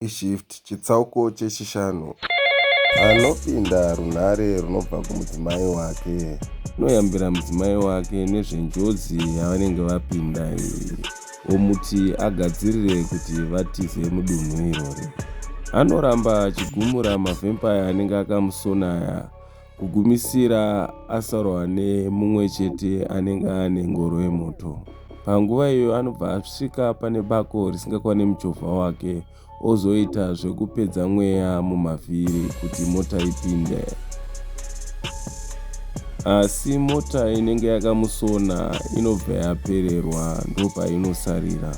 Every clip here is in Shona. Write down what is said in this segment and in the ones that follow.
iShift chitsauko chechishanu. Anopinda runhare runobva kumudzimai wake. Anoyambira mudzimai wake nezvenjodzi yavanenge vapinda iyi omuti agadzirire kuti vatize mudunhu irori. Anoramba achigumura mavempaya anenge akamusona aya Kugumisira asarohwa nemumwe chete anenge ane ngoro yemoto. Panguva iyoyo anobva asvika pane bako risingakwane muchovha wake ozoita zvekupedza mweya mumavhiri kuti mota ipinde. Asi mota inenge yakamusona inobva yapererwa ndopainosarira.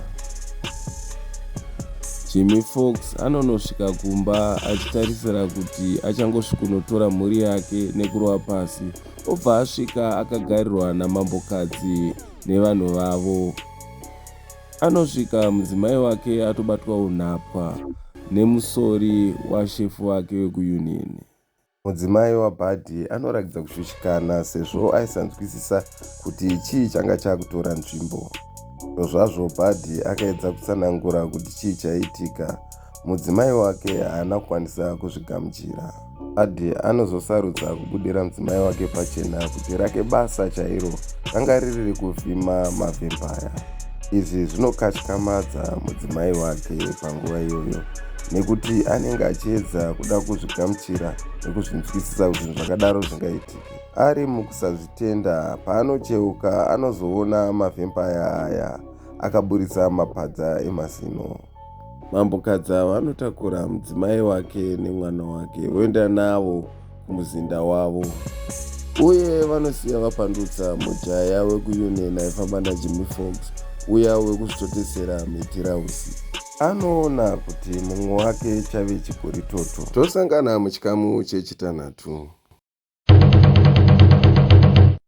Jimmy Fox anonosvika kumba achitarisira kuti achangosvikunotora mhuri yake nekurova pasi obva asvika akagarirwa namambokadzi nevanhu vavo anosvika mudzimai wake atobatwa unhapwa nemusori washefu wake wekuunion Mudzimai waBuddy anoratidza kushushikana sezvo aisanzwisisa kuti chii changa chakutora nzvimbo. Zvozvazvo Buddy akaedza kutsanangura kuti chii chaiitika, mudzimai wake haana kukwanisa kuzvigamuchira. Buddy anozosarudza kubudira mudzimai wake pachena kuti rake basa chairo ranga riri rekuvhima mavhempaya. Izvi zvinokatyamadza mudzimai wake panguva iyoyo. nekuti anenge achiedza kuda kuzvigamuchira nekuzvinzwisisa kuti zvinhu zvakadaro zvingaitike ari mukusazvitenda paanocheuka anozoona mavhempaya aya akaburitsa mapadza emazino mambokadzi ava anotakura mudzimai wake nemwana wake voenda navo kumuzinda wavo uye vanosiya vapandutsa mujaya wekuunion aifamba najimmy fox uya wekusvitotesera mitirausi anoona kuti mumwe wake chave chigori toto tosangana muchikamu chechitanhatu